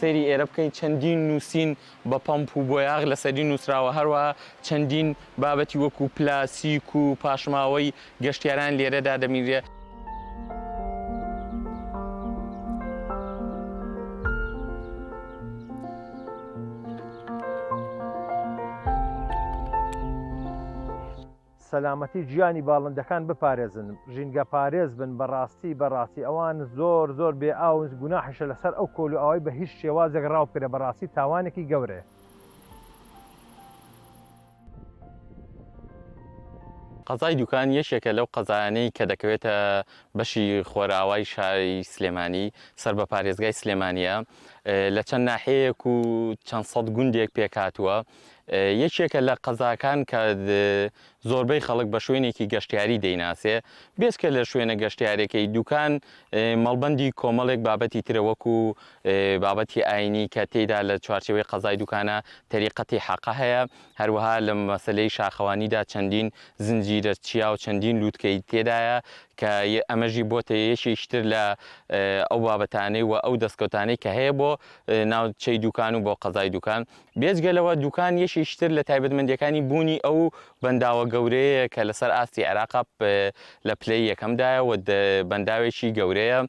سەیری ئێرە بکەین چەندین نووسین بە پەمپ و بۆیاغ لە سەری نووسراوە هەروە چەندین بابەتی وەکو پلاسیک و پاشماوەی گەشتیاران لێرە دادەمینرێ. سەلامەتی گیانی باڵندەکان بپارێزن ژینگە پارێز بن بەڕاستی بەڕاستی ئەوان زۆر زۆر بێ ئاونز گوناحشە لەسەر ئەو کۆل و ئەوەی بە هیچ شێوازێک ڕاوکرە بەڕاستی تاوانێکی گەورەیە قەزای دوکان یەکێکە لەو قەزایانەی کە دەکەوێتە بەشی خۆراوای شاری سلێمانی، سەر بە پارێزگای سلێمانییە، لە چەند ناحیەیەک و چەند سەد گوندێک پێکهاتووە، یەکێکە لە قەزاکان کە زۆربەی خەڵک بە شوێنێکی گەشتیاری دەیناسێ، بێجگە لە شوێنە گەشتیارەکەی، دوکان مەڵبەندی کۆمەڵێک بابەتی ترە وەکو بابەتی ئاینی کە تێیدا لە چوارچێوەی قەزای دوکانە تەریقەتی حەقە هەیە، هەروەها لە مەسەلەی شاخەوانیدا چەندین زنجیرە چیا و چەندین لووتکەی تێدایە کە ئەمەشی بۆتە یەکێکی تر لە ئەو بابەتانەی و ئەو دەستکەوتانەی کە هەیە بۆ ناوچەی دوکان و بۆ قەزای دوکان. بێجگە لەوە دوکان یەکێکی تر لە تایبەتمەندییەکانی بوونی ئەو بەنداوە گەورەیەیە کە لەسەر ئاستی عێراقا لە پلەی یەکەمدایە و بەنداوێکی گەورەیە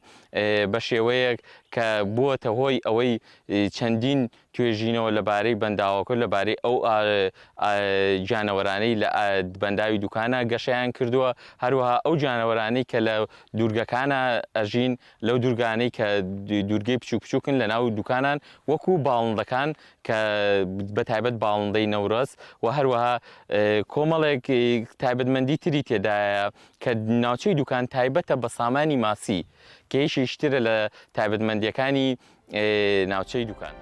بە شێوەیەک کە بووەتە هۆی ئەوەی چەندین توێژینەوە لەبارەی بەنداوەکە لەبارەی ئەو گیانەوەرانەی لە بەنداوی دوکانە گەشیان کردووە هەروەها ئەو گیانەوەرانی کە لە دوورگەکانە ئەژین لەو دوورگانەی کە دوورگەی بچوک بچووکن لە ناو دوکانان وەکو باڵندەکان کە بە تایبەت باڵندەی نەورەز و هەروەها کۆمەڵێک تایبەتمەندی تری تێدایە کە ناوچەی دوکان تایبەتە بە سامانی ماسی کە یەکێکی ترە لە تایبەتمەندییەکانی ناوچەی دوکان.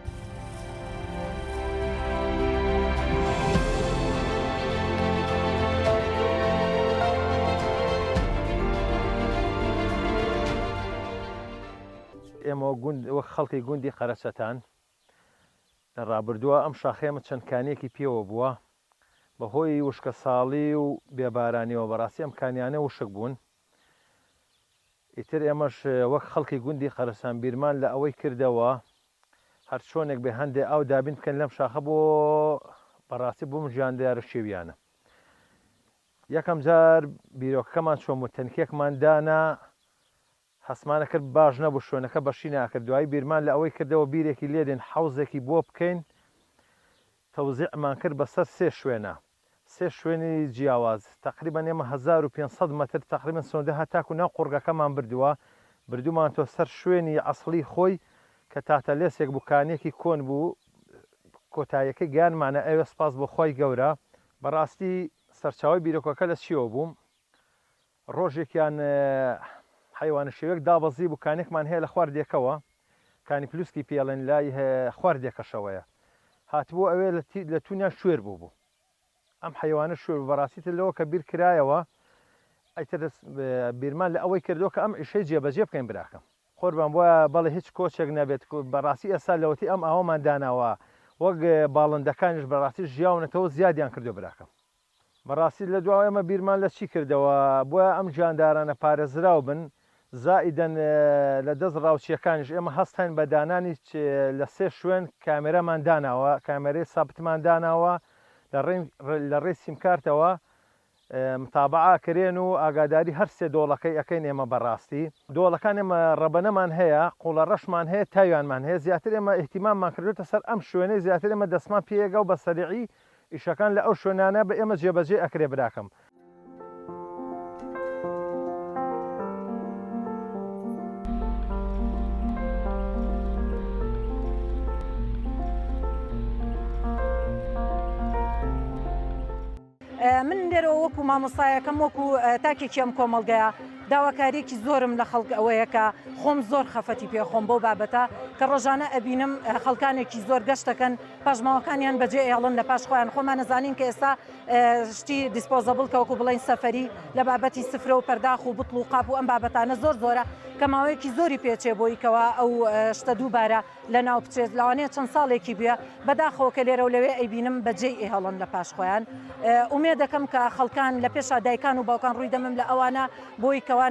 ئێمە وەک خەڵکی گوندی قەرەچەتان لە ڕابردووە ئەم شاخەیەمە چەند کانیەکی پێوە بووە بەهۆی وشکەساڵی و بێ بارانیەوە بەڕاستی ئەم کانیانە وشک بوون ئیتر ئێمەش وەک خەڵکی گوندی قەرەسان بیرمان لە ئەوەی کردەوە هەر چۆنێک بێ هەندێ ئاو دابین بکەن لەم شاخە بۆ بەڕاستی بۆم ژیان دیارە شێویانە یەکەم جار بیرۆکەکەمان چۆم و تەنکێکمان دانا هەستمانە کرد باش نەبوو شوێنەکە بەشی ناکرد دوایی بیرمان لە ئەوەی کردەوە بیرێکی لێدێن حەوزێکی بۆ بکەین تەوزیعمان کرد بەسەر سێ شوێنە سێ شوێنی جیاواز تەقریبەن ئێمە هەزار و پێنج سەد مەتر تەقریبەن سنوردە هەتاکو ناو قوڕگەکەمان بردوە بردومانتەوە سەر شوێنی ئەسڵی خۆی کە تاتەلێسێک بوو کانیەکی کۆن بوو کۆتایەکەی گەیانمانە ئەوێ سپاس بۆ خوای گەورە بەڕاستی سەرچاوەی بیرۆکەکە لە چیەوە بوو؟ ڕۆژێکیان حەیوانە شێوێک دابەزی بوو کانێکمان هەیە لە خوار دێکەوە کانی پلوسکی پێڵێن لای خوار دێکەشەوەیە هاتبوو ئەوێ لە تونیان شوێر بوو بوو ئەم حەیوانە شوێر بوو بەڕاستی تر لەوە کە بیر کرایەوە ئەیتر بیرمان لە ئەوەی کردو کە ئەم ئیشەی جێبەجێ بکەین براکەم قوربان بۆ بەڵێ هیچ کۆچێک نەبێت بەڕاستی ئێستا لەوەتی ئەم ئاوەمان داناوە وەک باڵندەکانیش بەڕاستی ژیاونەتەوە زیادیان کردو براکەم. بەڕاستی لە دوا ئێمە بیرمان لە چی کردەوە بۆیە ئەم گیاندارانە پارێزراو بن زائیدەن لە دەست ڕاوچییەکانیش ئێمە هەست هەین بە دانانی لە سێ شوێن کامێرامان داناوە کامێرەی سابتمان داناوە لە ڕێی لە ڕێی سیمکارتەوە متابعە کرێن و ئاگاداری هەر سێ دۆڵەکەی ئەکەین ئێمە بەڕاستی دۆڵەکان ئێمە ڕەبەنەمان هەیە قوڵە ڕەشمان هەیە تاویانمان هەیە زیاتر ئێمە ئیهتیماممان کردوێتە سەر ئەم شوێنەی زیاتر ئێمە دەستمان پێیەگا و بە سەریعی ئیشەکان لە ئەو شوێنانە بە ئێمە جێبەجێ ئەکرێ براکەم. من لێرەوە وەکو مامۆستایەکەم وەکو تاکێکی ئەم کۆمەڵگەیە داواکاریەکی زۆرم لە خەڵک ئەوەیە کە خۆم زۆر خەفەتی پێخۆم بۆ بابەتە کە ڕۆژانە ئەبینم خەڵکانێکی زۆر گەشتەکەن پاشماوەکانیان بەجێ ئێڵن لە پاش خۆیان خۆمان نەزانین کە ئێستا شتی دیسپۆزەبل کەوەکو بڵین سەفری لە بابەتی سفرە و پەرداخ و بتڵ و قاپ و ئەم بابەتانە زۆر زۆرە کە ماوەیەکی زۆری پێچێ بۆی کەەوە ئەو شتە دووبارە لە ناو بچێت لەوانەیە چەند ساڵێکی بە بەداخەوە کە لێرە و لەوێ ئەیبینم بەجێ ئێهڵن لە پاش خۆیان ئومێ دەکەم کە خەڵکان لە پێشا دایکان و باوکان ڕووی دەمم لە ئەوانە بۆی کەوانە